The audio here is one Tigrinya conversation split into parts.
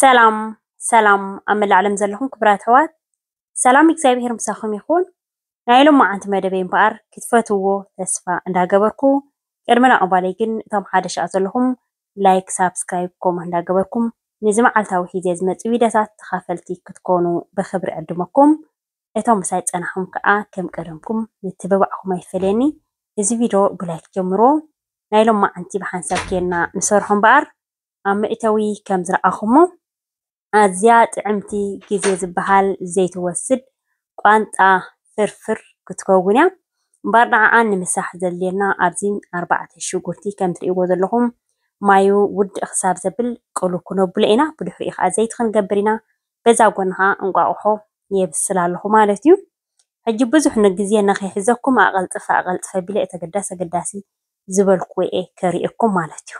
ሰላም ሰላም ኣብ መላእ ዓለም ዘለኹም ክቡራት ኣሕዋት ሰላም እግዚኣብሄር ምሳኹም ይኹን። ናይ ሎማዓንቲ መደበይ እምበኣር ክትፈትውዎ ተስፋ እንዳገበርኩ ቅድሚ ናቕባለይ ግን እቶም ሓደ ሻዕ ዘለኹም ላይክ ሳብስክራይብ ኮመንት እንዳገበርኩም ንዚ መዓልታዊ ሒዜ ዝመጽእ ቪድዮታት ተኻፈልቲ ክትኮኑ ብኽብሪ ዕድመኩም። እቶም ምሳይ ዝጸናሕኩም ከኣ ከም ቀደምኩም ምትብባዕኩም ኣይፈለየኒ እዚ ቪዶ ብላይክ ጀምርዎ ናይ ሎማዓንቲ ብሓንሳብ ኬንና ንሰርሖ እምበኣር ኣብ መእተዊ ከም ዝረኣኹሞ ኣዝያ ጥዕምቲ ግዜ ዝበሃል ዘይትወስድ ቋንጣ ፍርፍር ክትከውን እያ እምበኣር ንዓኣ ንምስራሕ ዘድልየና ኣብዚ ኣርባዕተ ሽጉርቲ ከም ትርእይዎ ዘለኹም ማዩ ውድእ ክሳብ ዘብል ቅሉ ክነብሎ ኢና ብድሕሪኡ ከኣ ዘይቲ ክንገብር ኢና በዛ ጎኒ ከኣ እንቋቑሖ የብስል ኣለኹ ማለት እዩ። ሕጂ ብዙሕ ንግዜ ንኺሕዘኩም ኣቐልጥፈ ኣቐልጥፈ ኣቢለ እቲ ኣገዳሲ ኣገዳሲ ዝበልኩዎ'የ ከርእየኩም ማለት እዩ።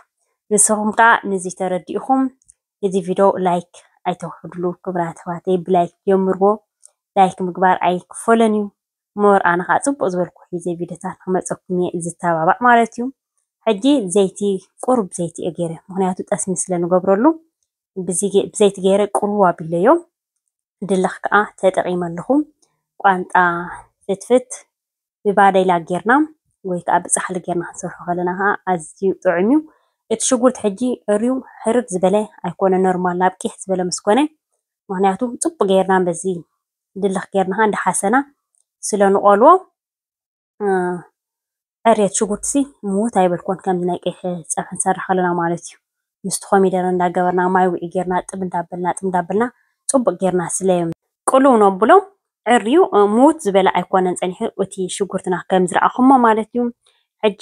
ንስኹም ከኣ ነዚ ተረዲእኹም እዚ ቪዶ ላይክ ኣይተውሕድሉ ክብራት ኣሕዋተይ ብላይክ ጀምርዎ ላይክ ምግባር ኣይክፈሎን እዩ ሞር ኣነ ከኣ ጽቡቕ ዝበልኩዎ ሒዘ ቪዶታት ክመጸኩም እየ ዝተባባዕ ማለት እዩ። ሕጂ ዘይቲ ቁሩብ ዘይቲ እየ ገይረ ምኽንያቱ ጠስሚ ስለ ንገብረሉ ብዘይቲ ገይረ ቅልው ኣቢለዮ ድልኽ ከኣ ተጠቂመልኹም ቋንጣ ፍትፍት ብባዴላ ጌርና ወይ ከኣ ብጻሕሊ ጌርና ክንሰርሖ ከለና ከኣ ኣዝዩ ጥዑም እዩ። እቲ ሽጉርቲ ሕጂ ርዩ ሕርር ዝበለ ኣይኮነን ኖርማል ናብ ቂሕ ዝበለ ምስ ኮነ ምክንያቱ ጽቡቅ ጌርና በዚ ድልኽ ጌርና ከኣ እንዳ ሓሰና ስለ ንቆልዎ ዕርየት ሽጉርቲ ሲ ምውት ኣይበልኩዎን ከምዚ ናይ ቀይሕ ፀብሒ ንሰርሕ ከለና ማለት እዩ። ምስቲ ኮሚደረ እንዳገበርና ማይ ውዒ ጌርና ጥብ እንዳበልና ጥብ እንዳበልና ፅቡቅ ጌርና ስለ ቅልው ነብሎም ዕርዩ ምውት ዝበለ ኣይኮነን ፀኒሑ እቲ ሽጉርትና ከም ዝረኣኹሞ ማለት እዩ። ሕጂ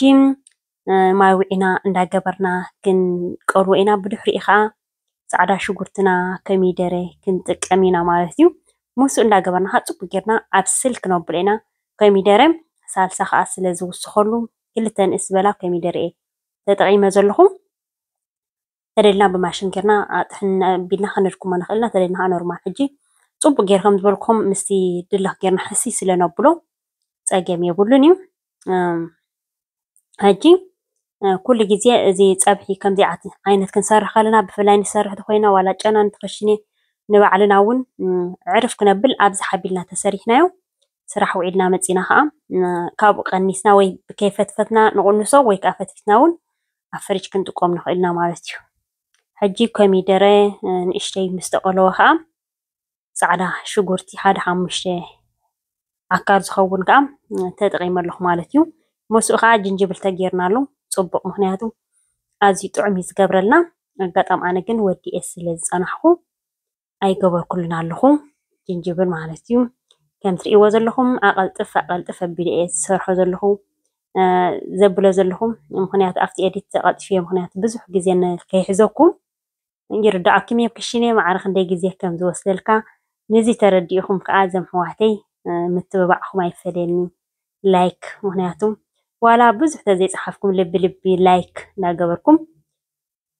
ማይ ውዒና እንዳገበርና ክንቀልዎ ኢና ብድሕሪኡ ከዓ ፃዕዳ ሽጉርትና ከሚደረ ክንጥቀም ኢና ማለት እዩ። ሙሱ እንዳገበርና ከዓ ፅቡቅ ጌርና ኣብስል ክነብሎ ኢና። ኮሚደረ ሳልሳ ከዓ ስለዝውስከሉ ክልተ ንእስ ዝበላ ኮሚደረ እየ ተጠቂመ ዘለኩ። ተደሊና ብማሽን ጌርና ጥሕን ኣቢልና ከነድክሞ ንክእል ኢና ተደሊና ከዓ ኖርማል ሕጂ ፅቡቅ ጌረ ከምዝበልኩኩም ምስቲ ድልክ ጌርና ሕስይ ስለነብሎ ፀገም የብሉን እዩ። ሕጂ ኩሉ ግዜ እዚ ፀብሒ ከምዚ ዓይነት ክንሰርሕ ከለና ብፍላይ ንሰርሕ እንተኾይና ዋላ ጨና ንክሽነ ንባዕልና እውን ዕርፍ ክነብል ኣብዝሓ ኣቢልና እንተሰሪሕናዮ ስራሕ ውዒልና መፂና ከዓ ካብኡ ቀኒስና ወይ ከይፈትፈትና ንቅንሶ ወይ ከዓ ፈትፊትና እውን ኣብ ፍርጅ ክንጥቀሞ ንኽእል ኢና ማለት እዩ። ሕጂ ኮሚደረ ንእሽተይ ምስ ተቆለወ ከዓ ፃዕዳ ሽጉርቲ ሓደ ሓሙሽተ ኣካል ዝኸውን ከዓ ተጠቒመ ኣለኹ ማለት እዩ። መስኡ ከዓ ጅንጅብል ተገይርናሉ ፅቡቕ ምክንያቱ ኣዝዩ ጥዑም እዩ ዝገብረልና። ኣጋጣሚ ኣነ ግን ወዲኤ ስለ ዝፀናሕኩ ኣይገበርኩሉን ኣለኹ ጅንጅብል ማለት እዩ። ከም ትርእይዎ ዘለኹም ኣቐልጥፍ ኣቐልጥፍ ኣቢለ እየ ዝሰርሖ ዘለኹ ዘብሎ ዘለኹ ምክንያቱ ኣብቲ ኤዲት ተቐልጢፈ ምክንያቱ ብዙሕ ግዜ ከይሕዘኩም ይርዳኣኩም እየ ክሽኔ ማዕረ ክንደይ ግዜ ከም ዝወስደልካ ንዚ ተረዲኢኩም ከኣ ዘም ኣሕዋተይ ምትብባዕኩም ኣይፈለየኒ like ምክንያቱ ዋላ ብዙሕ ተዘይጸሓፍኩም ልቢ ልቢ like እንዳገበርኩም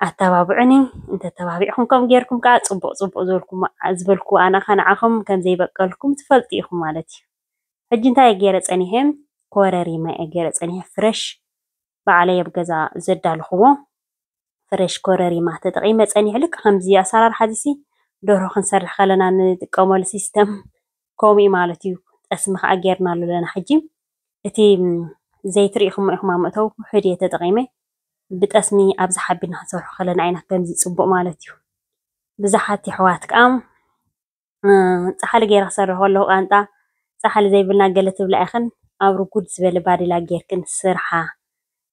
ኣታባብዑኒ እንተ ተባቢዕኩም ከም ገርኩም ከኣ ጽቡቅ ጽቡቅ ዝበልኩሞ ዝበልኩዎ ኣነ ከኣ ንዓኩም ከም ዘይበቀልኩም ትፈልጡ ኢኩም ማለት እዩ ሕጂ እንታይ ገረ ጸኒሐ ኮረሪማ እየ ገረ ጸኒሐ ፍረሽ ባዕለይ ኣብ ገዛ ዘዳለኹዎ ፍሬሽ ኮረሪማ ተጠቒመ ጸኒሑ ልክ ከምዚ ኣሰራርሓ እዚሲ ደርሆ ክንሰርሕ ከለና ንጥቀመሉ ሲስተም ከምኡ እዩ ማለት እዩ ጠስሚ ከዓ ጌርናሉ ኣለና ሕጂ እቲ ዘይቲ ርኢኹሞ ኢኹም ኣብ መእተዊ ውሑድ እየ ተጠቒመ ብጠስሚ ኣብዚ ሓቢና ክንሰርሖ ከለና ኢና ከምዚ ጽቡቕ ማለት እዩ ብዙሓት የሕዋት ከዓ ፃሕሊ ገይረ ክሰርሕ ከለኩ ቃንጣ ፃሕሊ ዘይብልና ገለ ትብላ ኢክን ኣብ ርጉድ ዝበለ ባዴላ ገይርክን ስርሓ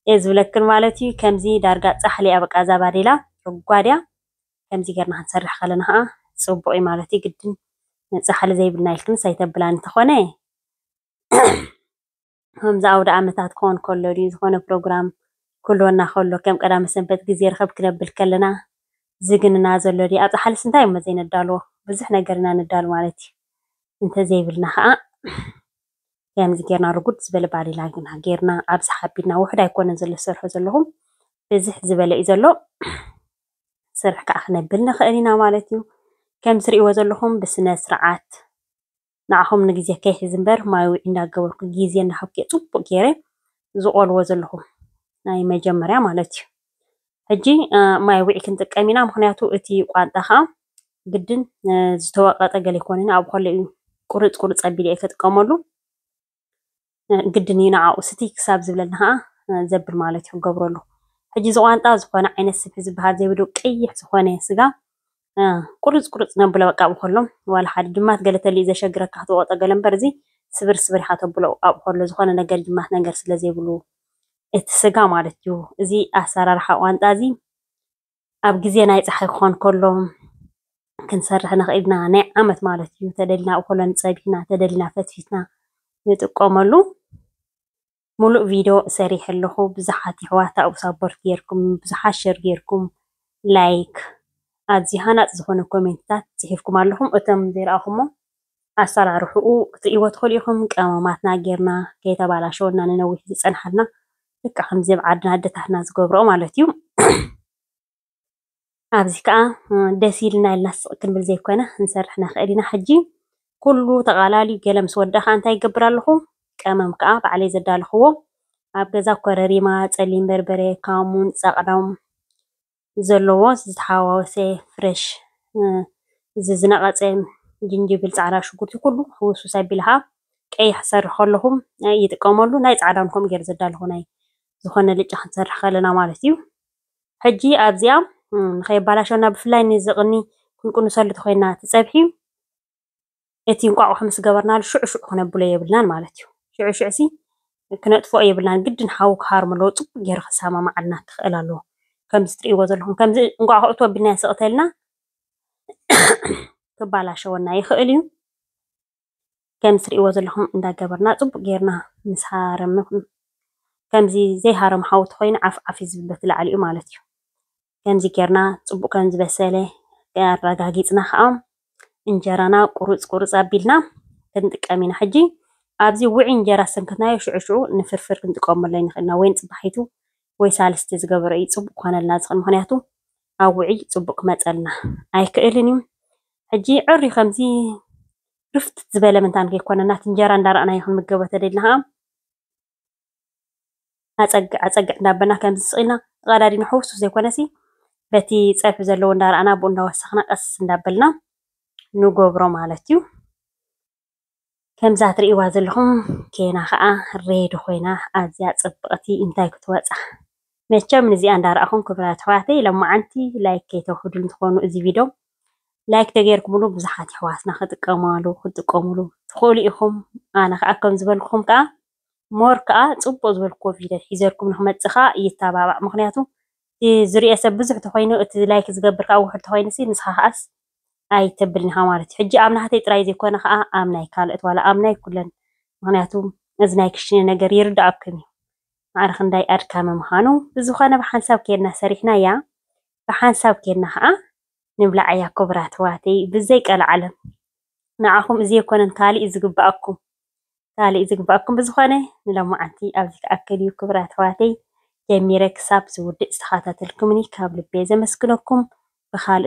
እየ ዝብለክን ማለት እዩ ከምዚ ዳርጋ ፃሕሊ እያ በቃ እዛ ባዴላ ርጓድ እያ ከምዚ ገርና ክንሰርሕ ከለና ከዓ ፅቡቅ እዩ ማለት እዩ ግድን ፃሕሊ ዘይብልና ኢልክንስ ኣይተብላን እንተኮነ ከምዚ ኣውደኣመታት ክኾን ከሎ ድዩ ዝኾነ ፕሮግራም ክህልወና ከሎ ከም ቀዳመ ሰንበት ግዜ ርኽብ ክነብል ከለና ዝግንና ዘሎ ድዩ? ኣብ ጻሕልስ እንታይ እሞ ዘይነዳልዎ ብዙሕ ነገር ኢና ነዳሉ ማለት እዩ። እንተዘይብልና ከኣ ከምዚ ጌርና ርጉድ ዝበለ ባሊላ ግና ጌርና ኣብዝሓ ኣቢልና ውሑድ ኣይኮነን ዘሎ ዝሰርሖ ዘለኹም ብዝሕ ዝበለ እዩ ዘሎ ስርሕ ከኣ ክነብል ንኽእል ኢና ማለት እዩ። ከም ትርእይዎ ዘለኹም ብስነ ስርዓት ንዓኹም ንግዜ ከይሕዝ እምበር ማይውዒ እንዳገበርኩ ግዜ እንዳሃብኩ እየ ጽቡቅ ጌረ ዝቆልዎ ዘለኹ ናይ መጀመርያ ማለት እዩ ሕጂ ማይውዒ ክንጥቀም ኢና ምክንያቱ እቲ ቋንጣ ከዓ ግድን ዝተወቀጠ ገለ ይኮነኒ ኣብ ከለ እዩ ቁርጽ ቁርጽ ኣቢለ እየ ከጥቀመሉ ግድን እዩ ንዓኡ ስትይ ክሳብ ዝብለኒ ኸኣ ዘብል ማለት እዩ ክገብረሉ። ሕጂ እዚ ቋንጣ ዝኾነ ዓይነት ስብሒ ዝበሃል ዘይብሉ ቀይሕ ዝኾነ ስጋ ቁርጽ ቁርጽ ነብሎ በቃ ኣብኡ ከሎ ዋላ ሓደ ጅማት ገለ ተሊኡ ዘሸግረካ ክትወቕጦ ገለ እምበር እዚ ስብር ስብር ኢኻ ተብሎ ኣብኡ ከሎ ዝኾነ ነገር ጅማት ነገር ስለ ዘይብሉ እቲ ስጋ ማለት እዩ። እዚ ኣሰራርሓ ቋንጣ እዚ ኣብ ግዜ ናይ ጸሓይ ክኾን ከሎ ክንሰርሕ ንኽእል ኢና። ናይ ዓመት ማለት እዩ። ተደሊና ኣብኡ ከሎን ጸቢሕና ተደሊና ፈትፊትና ንጥቀመሉ። ሙሉእ ቪድዮ ሰሪሐ ኣለኹ ብዙሓት የሕዋት ኣብኡ ሳፖርት ጌርኩም ብዙሓት ሸር ጌርኩም ላይክ ኣዝዩ ሃናጺ ዝኾነ ኮሜንትታት ጽሒፍኩም ኣለኹም እቶም ዘይረኣኹሞ ኣሰራርሕኡ ክትሪእዎ ትኽእሉ ኢኹም። ቀመማትና ጌርና ከይተባላሸወና ንነዊሕ ዝፀንሓልና ልክዕ ከምዚ ኣብ ዓድና ኣደታትና ዝገብርኦ ማለት እዩ። ኣብዚ ከዓ ደስ ኢልና ኢልና ስቕ ክንብል ዘይኮነ ክንሰርሕ ንኽእል ኢና። ሕጂ ኩሉ ተቓላልዩ ገለ ምስ ወዳ ከዓ እንታይ ይገብር ኣለኹ? ቀመም ከዓ ባዕለይ ዘዳለኽዎ ኣብ ገዛ ኮረሪማ፣ ፀሊም በርበረ፣ ካሙን፣ ፃቕዳም ዘለዎ ዝተሓዋወሰ ፍረሽ እዚ ዝነቐፀ ጅንጅብል፣ ፃዕዳ ሽጉርቲ ኩሉ ሕውስውስ ኣቢልኻ ቀይሕ ክትሰርሑ ከለኹም ይጥቀመሉ። ናይ ፃዕዳ እውን ከምኡ ገይረ ዘዳሉ ናይ ዝኾነ ኣልጫ ክንሰርሕ ከለና ማለት እዩ። ሕጂ ኣብዚኣ ንኸየባላሸወና ብፍላይ ነዚ ቕኒ ክንቅንሰሉ ተኾይንና እቲ ፀብሒ እቲ እንቋቑሖ ምስ ገበርናሉ ሽዑ ሽዑ ክነብሎ የብልናን ማለት እዩ። ሽዑ ሽዑሲ ክነጥፍኦ የብልናን ግድን ሓዊ ክሃርም ኣለዎ ጽቡቕ ገይሩ ክሰማማዓልና ክኽእል ኣለዎ። ከምዚ ትርእይዎ ዘለኹም ከምዚ እንቋቑሖ እቶ ኣቢልናዮ ስቕ ተልና ክባላሸወና ይኽእል እዩ። ከምዚ ትርእይዎ ዘለኹም እንዳገበርና ጽቡቕ ገይርና ምስ ሃረምና ከምዚ ዘይሃረም ሓዊ ተኾይኑ ዓፍ ዓፍ እዩ ዝብል በቲ ላዕሊኡ ማለት እዩ። ከምዚ ጌርና ፅቡቕ ከም ዝበሰለ ኣረጋጊፅና ከዓ እንጀራና ቁሩፅ ቁሩፅ ኣቢልና ክንጥቀም ኢና። ሕጂ ኣብዚ ውዒ እንጀራ ሰንክትናዮ ሽዑ ሽዑ ንፍርፍር ክንጥቀመሉ ኣይንኽእል ኢና። ወይ ንፅባሒቱ ወይ ሳልስቲ ዝገበረ እዩ ፅቡቕ ክኾነልና ዝኽእል። ምኽንያቱ ኣብ ውዒ ፅቡቕ ክመፀልና ኣይክእልን እዩ። ሕጂ ዕርዩ ከምዚ ርፍት ዝበለ ምንታን ከይኮነና እቲ እንጀራ እንዳረኣናዮ ክንምገቦ ተደሊና ከዓ ኣፀግዕ ኣፀግዕ እንዳበልና ከምዚ ስቕ ኢልና ተቐዳዲድና ሕውስውስ ዘይኮነሲ በቲ ፀብሒ ዘለዎ እንዳረኣና ብኡ እንዳወሰኽና ቀስ እንዳበልና ንገብሮ ማለት እዩ። ከምዛ ትርእይዋ ዘለኹም ኬና ከዓ ሬድ ኾይና ኣዝያ ፅብቕቲ እንታይ ክትወፃ መቸም ንዚኣ እንዳረኣኹም ክብራት ኣሕዋተይ ሎማዓንቲ ላይክ ከይተውሕዱኒ ትኾኑ እዚ ቪድዮ ላይክ ተገይርኩምሉ ብዙሓት ኣሕዋትና ክጥቀማሉ ክትጥቀሙሉ ትኽእሉ ኢኹም ኣነ ከዓ ከም ዝበልኩኹም ከዓ ሞር ከዓ ፅቡቅ ዝበልኩዎ ቪድዮ ሒዘልኩም ንክመፅእ ከዓ ይተባባዕ ምክንያቱ ዝሪኦ ሰብ ብዙሕ ተኮይኑ እቲ ላይክ ዝገብር ከዓ ውሕድ ተኮይኑ ሲ ንስኻ ከዓስ ኣይተብልን ኢኻ ማለት እዩ ሕጂ ኣብ ናህተይ ጥራይ ዘይኮነ ከዓ ኣብ ናይ ካልኦት ዋላ ኣብ ናይ ኩለን ምክንያቱ እዚ ናይ ክሽነ ነገር ይርዳኣኩም እዩ ማዕረ ክንዳይ ኣድካሚ ምኻኑ ብዝኾነ ብሓንሳብ ኬድና ሰሪሕናያ ብሓንሳብ ኬድና ኸኣ ንብላዓያ ኩቡራት ኣሕዋተይ ብዘይ ቀላዓለም ንዓኹም እዚ የኮነን ካሊእ ዝግባኣኩም ካሊእ ዝግባኣኩም ብዝኾነ ንሎማዓንቲ ኣብዚ ክኣክል እዩ ኩቡራት ኣሕዋተይ ጀሚረ ክሳብ ዝውድእ ዝተኻታተልኩምኒ ካብ ልቤ ዘመስግነኩም ብኻልእ